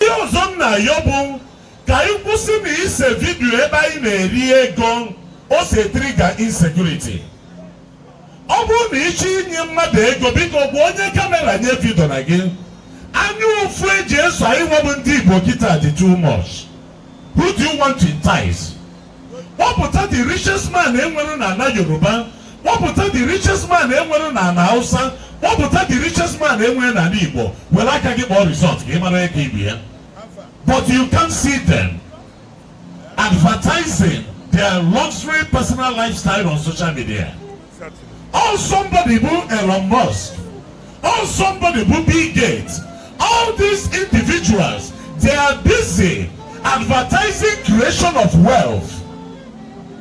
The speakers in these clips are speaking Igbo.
Ihe ọzọ m na-ayọ bụ ka anyị kwụsị na ise video ebe anyị na-eri ego o si trigger insecurity. Ọ bụrụ na ị chọọ inye mmadụ ego biko gwa onye camera nya evideona gị anya ụfụ e ji eso anyị nwa bụ ndị Igbo kịta dị too much. Who do you want to entice? kpọpụta the richest man enwere na ala yoruba kpọpụta the richest man enwere na ala hausa kpọpụta the richest man enwere na ala igbo were aka gị kpọọ result ka ị mara ego ibu ya but you can't see them advertising their luxury personal lifestyle on social media All somebody bụ Elon Musk, all somebody bụ Bill Gates, all these individuals they are busy advertising creation of wealth.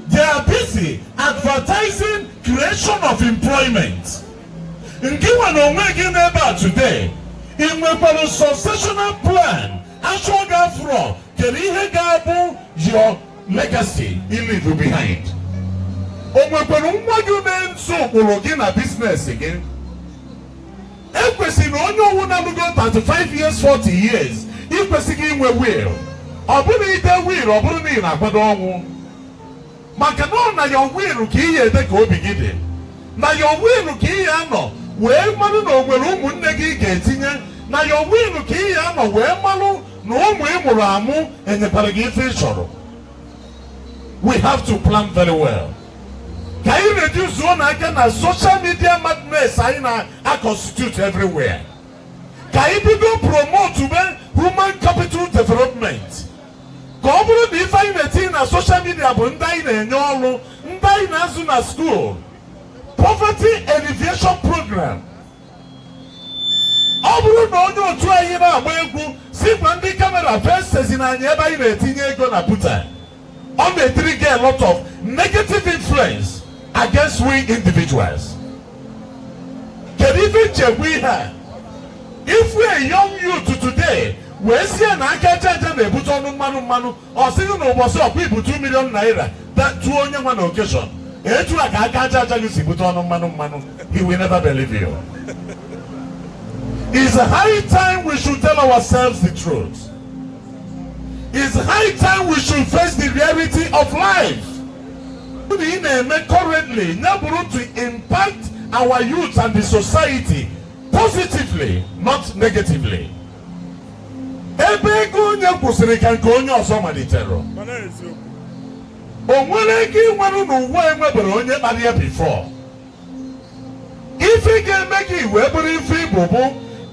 They are busy advertising creation of employment. Ngị nwa na onwe gị nọ ebe a today, ị nwekwara successional plan a chọọ gị afụrọ kedu ihe ga-abụ your legacy you leave behind o nwekwara nwa gị na-eso ụkpụrụ gị na business gị e kwesịrị na onye ọwụna lugo 35 years 40 years i kwesịrị inwe will ọ bụrọ na i dee will ọ bụrụ na ị na-akwado ọnwụ maka na ọ na your will ka ị ya-ede ka obi gị dị na your will ka ị ya-anọ wee marụ na o nwere ụmụnne gị ị ga-etinye na your will ka ị ya-anọ wee marụ na ụmụ ị mụrụ amụ enyekwarọ gị ife ị chọrọ we have to plan very well ka anyị reduceuo nụ aka na social media madness anyị na-aconstitute everywhere ka anyị bido promotebe human capital development ka ọ bụrụ na ife anyị na-etinye na social media bụ ndị anyị na-enye ọrụ ndị anyị na-azụ na school poverty alleviation program ọ bụrụ na onye otu anyị na-agba egwu si gwa ndị camera facezi na anyị ebe anyị na-etinye ego na buta ọ na-etrigger a lot of negative influence against we individuals kedu ife nchegbu ihe a ị fụ a young youth today wee sị ya na aka aja aja na-ebute ọnụ mmanụ mmanụ ọ sị gị na ụbọchị ọ kwa i bu 2 million naira tụọ onye nwa na occasion etu a ka aka aja aja gị si bute ọnụ mmanụ mmanụ he will never believe you It's high time we should tell ourselves the truth. It's high time we should face the reality of life. na ị na-eme currently ya bụrụ to impact our youth and the society positively not negatively ebe ego onye kwụsịrị ka nke onye ọzọ malitere o nwerọ ego ị nwere n'ụwa enweberọ onye kpara ya before ife ị ga-eme gị wee bụrụ ife ị bụ bụ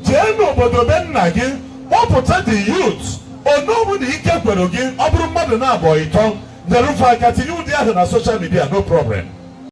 jee n'obodo be nna gị kpọpụta the youth onye ọbụla ike kwere gị ọ bụrụ mmadụ naabọ ịtọ nyere fa aka tinye ụdị ahụ na social media no problem